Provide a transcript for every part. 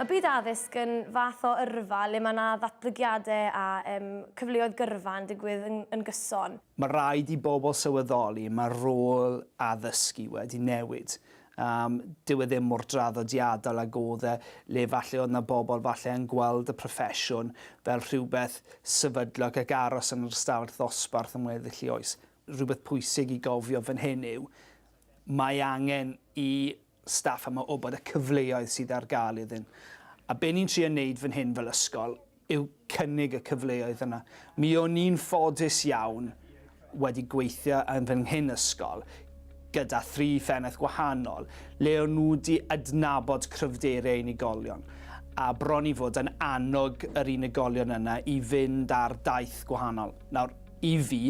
Mae byd addysg yn fath o yrfa le mae 'na ddatblygiadau a yym cyfleoedd gyrfa yn digwydd yn yn gyson. Mae rhaid i bobl sylweddoli mae rôl addysgu wedi newid Yym, dyw e ddim mor draddodiadol ag o'dd e, le falle o'dd 'na bobl falle yn gweld y proffesiwn fel rhywbeth sefydlog ac aros yn yr ystafell ddosbarth am weddill 'i oes. Rhywbeth pwysig i gofio fan hyn yw, mae angen i staff yma wbod y cyfleoedd sydd ar ga'l iddyn. A be' ni'n trio neud fan hyn fel ysgol, yw cynnig y cyfleoedd yna. Mi o'n i'n ffodus iawn wedi gweithio yn fy nghyn ysgol gyda thri phennaeth gwahanol le o'n nhw wedi adnabod cryfderau unigolion a bron i fod yn annog yr unigolion yna i fynd ar daith gwahanol. Nawr, i fi,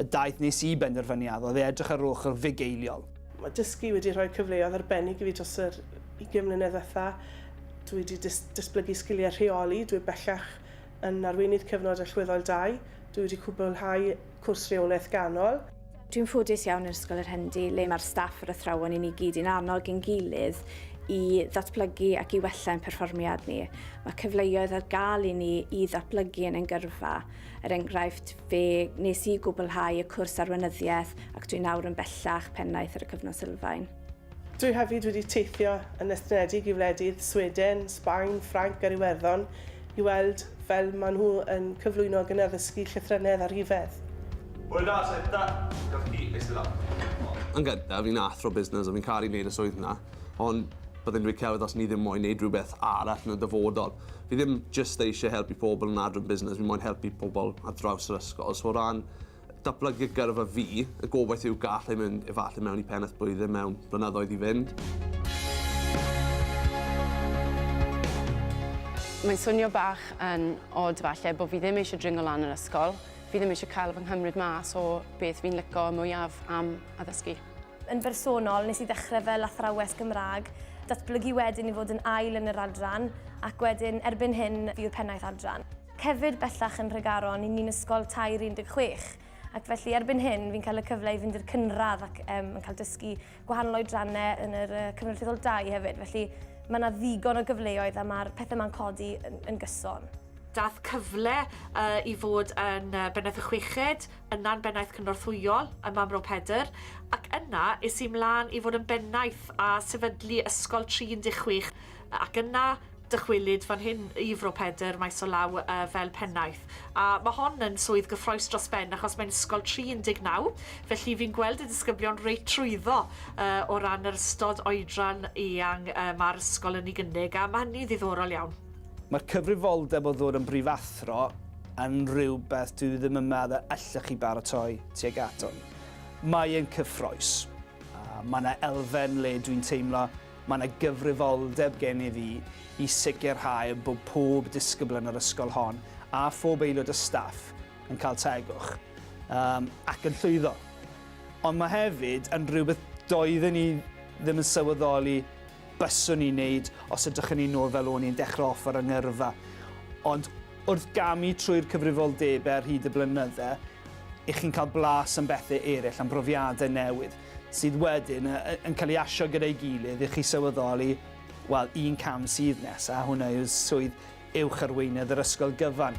Y daith nes i benderfyniad oedd i edrych ar ôl chwrdd fugeiliol. Mae dysgu wedi rhoi cyfleoedd arbennig i fi dros yr ugain mlynedd ddiwetha'. Dwi wedi dys- datblygu sgiliau rheoli, dwi bellach yn Arweinydd Cyfnod Allweddol Dau, dwi wedi cwblhau cwrs Rheolaeth Ganol, Dwi'n ffodus iawn yn Ysgol yr Hendy le mae'r staff, yr athrawon i ni gyd yn annog ein gilydd i ddatblygu ac i wella ein perfformiad ni. Mae cyfleoedd ar gael i ni i ddatblygu yn ein gyrfa. Er enghraifft, fe nes i gwblhau y cwrs arweinyddiaeth ac dwi nawr yn bellach pennaeth ar y Cyfnod Sylfaen. Dwi hefyd wedi teithio yn estynedig i wledydd Sweden, Sbaen, Ffrainc ar Iwerddon i weld fel maen nhw yn cyflwyno ac yn addysgu llythrennedd a rhifedd. Hwyla Senta, gaf chi eistedd lawr? Yn gyntaf, fi'n athro busnes a fi'n caru neud y swydd 'na, ond byddai'n rhy celf os o'n i ddim moyn neud rhywbeth arall yn y dyfodol. Fi ddim jyst eisiau helpu pobl yn adran busnes, fi moyn helpu pobl ar draws yr ysgol. So o ran datblygu y gyrfa fi, y gobaith yw gallai mynd efallai mewn i pennaeth blwyddyn mewn blynyddoedd i fynd. Mae'n swnio bach yn od falle bod fi ddim eisiau dringo lan yr ysgol, fi ddim eisiau cael fy nghymryd mas o beth fi'n lico mwyaf am addysgu. Yn bersonol, nes i ddechrau fel athrawes Gymraeg, datblygu wedyn i fod yn ail yn yr adran, ac wedyn, erbyn hyn, fi yw'r pennaeth adran. Cefyd bellach yn Nhregaron, i ni'n ysgol tair i 16, ac felly erbyn hyn, fi'n cael y cyfle i fynd i'r cynradd ac yym yn cael dysgu gwahanol oedrannau yn yr yy Cyfnod Rhyfel Dau hefyd, felly mae 'na ddigon o gyfleoedd a ma'r pethe 'ma'n codi yn yn gyson. Dath cyfle yy i fod yn yy bennaeth y chweched, Yna'n bennaeth cynorthwyol ym Mro Pedr, ac yna es i 'mlaen i fod yn bennaeth a sefydlu Ysgol Trin Dŷ Chwich, ac yna dychwelyd fan hyn i Fro Pedr, maes o law, fel pennaeth. A mae hon yn swydd gyffroes dros ben, achos mae'n ysgol tri 19, felly fi'n gweld y disgyblion reit trwyddo o ran yr ystod oedran eang mae'r ysgol yn ei gynnig, a mae hynny'n ddiddorol iawn. Mae'r cyfrifoldeb o ddod yn brifathro yn rhywbeth dwi ddim yn meddwl y allech chi baratoi tuag ato. Mae e'n cyffrous. Mae yna elfen le dwi'n teimlo mae yna gyfrifoldeb gen i fi i sicrhau bod pob disgybl yn yr ysgol hon a phob aelod o staff yn cael tegwch um, ac yn llwyddo. Ond mae hefyd yn rhywbeth doedden ni ddim yn sylweddoli byswn i'n neud os edrychwn ni nôl fel o'n i'n dechre off ar 'y ngyrfa. Ond wrth gamu trwy'r cyfrifoldebe ar hyd y blynydde, 'ych chi'n cael blas am bethe ereill, am brofiadau newydd, sydd wedyn yn cael ei asio gyda'i gilydd i chi sylweddoli, wel, un cam sydd nesa, hwnna yw swydd Uwch Arweinydd yr Ysgol Gyfan.